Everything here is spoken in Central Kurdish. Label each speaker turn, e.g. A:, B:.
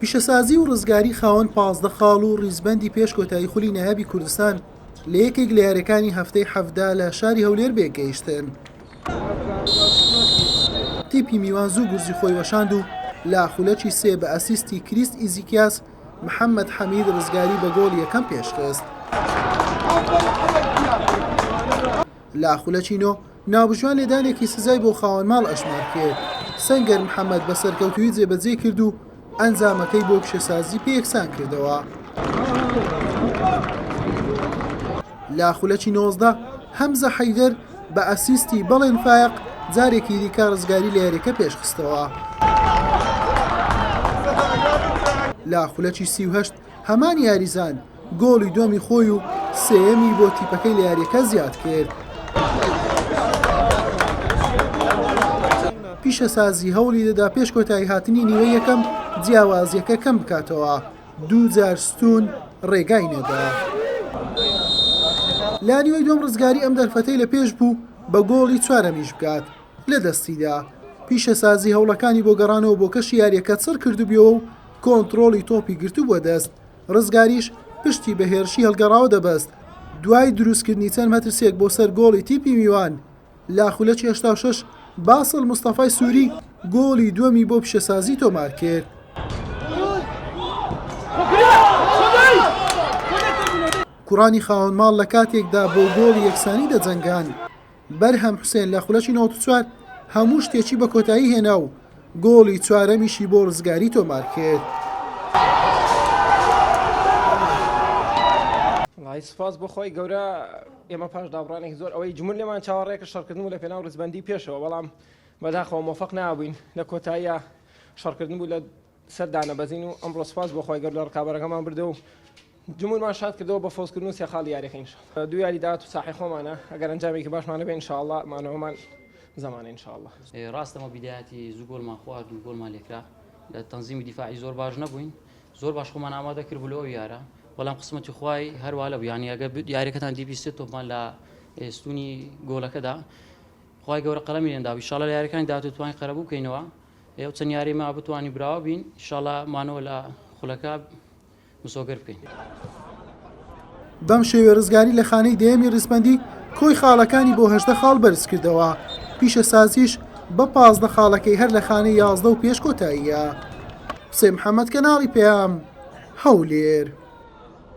A: پیشەسازی و ڕزگاری خاوەن پازدە خاڵ و ڕیزبەندی پێش کۆتایی خولی نایابی کوردستان لە یەکێک لە یاریەکانی هەفتەی حەڤدە لە شاری هەولێر بێگەیشتن تیپی میوان زوو گورزی خۆی وەشاند و لە خولەکی سێ بە ئەسیستی کریست ئیزیکیاس محەممەد حەمید ڕزگاری بە گۆڵ یەکەم پێشخست. لە خولەکینۆ، ناوبژیوان لێدانێکی سزای بۆ خاوەن ماڵ ئەژمار کرد، سەنگەر محەمەد بە سەرکەوتوویی جێبەجێی کرد و ئەنجامەکەی بۆ پیشەسازی پێ یەکسان کردەوە. لە خولەکی نۆزدە، هەمزە حەیدەر بە ئەسیستی بەڵێن فایەق جارێکی دیکە ڕزگاری لە یارییەکە پێشخستەوە. لە خولەکی سی و هەشت، هەمان یاریزان، گۆڵی دووەمی خۆی و سێیەمی بۆ تیپەکەی لە یارییەکە زیادکرد. پیشەسازی هەوڵی دەدا پێش کۆتاییهاتنی نیوەی یەکەم جیاوازییەکە کەم بکاتەوە، دوو جار ستوون ڕێگای نەدا. لە نیوەی دووەم ڕزگاری ئەم دەرفەتەی لە پێش بوو بە گۆڵی چوارەمیش بکات، لە دەستیدا. پیشەسازی هەوڵەکانی بۆ گەڕانەوە بۆ کەشی یارییەکە چڕکردبیەوە و کۆنتڕۆڵی تۆپی گرتبووە دەست، رزگاریش پشتی بە هێرشی هەڵگەڕاوە دەبەست، دوای دروستکردنی چەند مەترسییەک بۆ سەر گۆڵی تیپی میوان لە خولەکی هەشتا و شەش، باسڵ مستەفای سووری گۆڵی دووەمی بۆ پیشەسازی تۆمارکرد. کوڕانی خاوەنماڵ لە کاتێکدا بۆ گۆڵی یەکسانی دەجەنگان، بەرهەم حوسێن لە خولەکی نەوەد و چوار هەموو شتێکی بە کۆتایی هێنا و گۆڵی چوارەمیشی بۆ ڕزگاری تۆمارکرد.
B: وەڵاهی سوپاس بۆ خوای گەورە ئێمە پاش دابڕانێکی زۆر ئەوەی جمون لێمان چاوەڕێکە شەڕکردن بوو لە پێناو ڕیزبەندی پێشەوە بەڵام بەداخەوە مۆفەق نابووین لە کۆتاییە شەڕکردن بوو لە سەر دانەبەزین و ئەمڕۆ سوپاس بۆ خوای گەورە ڕکابەرەکەمان بردەوە و جموورمان شاد کردەوە بە فەوزکردن و سێ خاڵی یارییەکە ان شاءاللە دوو یاری داهاتوو ساحەی خۆمانە ئەگەر ئەنجامێکی باشمان هەبێت ان شاءاللە مانەوەمان زەمانە ان شاءاللە. ڕاستە ئەمە بیدایەتی
C: زوو گۆڵمان خوارد و گۆڵمان لێکرا لە تەنزیم و دیفاعی زۆر باش نەبووین زۆر باش خۆمان ئامادە کردبوو لۆ ئەو یارە بەڵام قسمەتی خوای هەر وا لەبوو یانی ئەگەر یاریەکەتان دیبی سێ تۆپمان لە ستوونی گۆڵەکەدا خوای گەورە قەڵەمی لێ نەدابوو ان شاءاللە لە یاریەکانی داهاتوو توانین قەرەبوو بکەینەوە ئێوە چەند یاری ماوە بتوانین براوە بین ئیشاڵا مانەوە لە خولەکە مسۆگەر بکەین.
A: بەم شێوێ رزگاری لە خانەی دەیەمی ریزبەندی کۆی خاڵەکانی بۆ هەژدە خاڵ بەرزکردەوە، پیشەسازیش بە پازدە خاڵەکەی هەر لە خانەی یازدە و پێش کۆتاییە. حوسێن محەمەد، کەناڵی پەیام، هەولێر.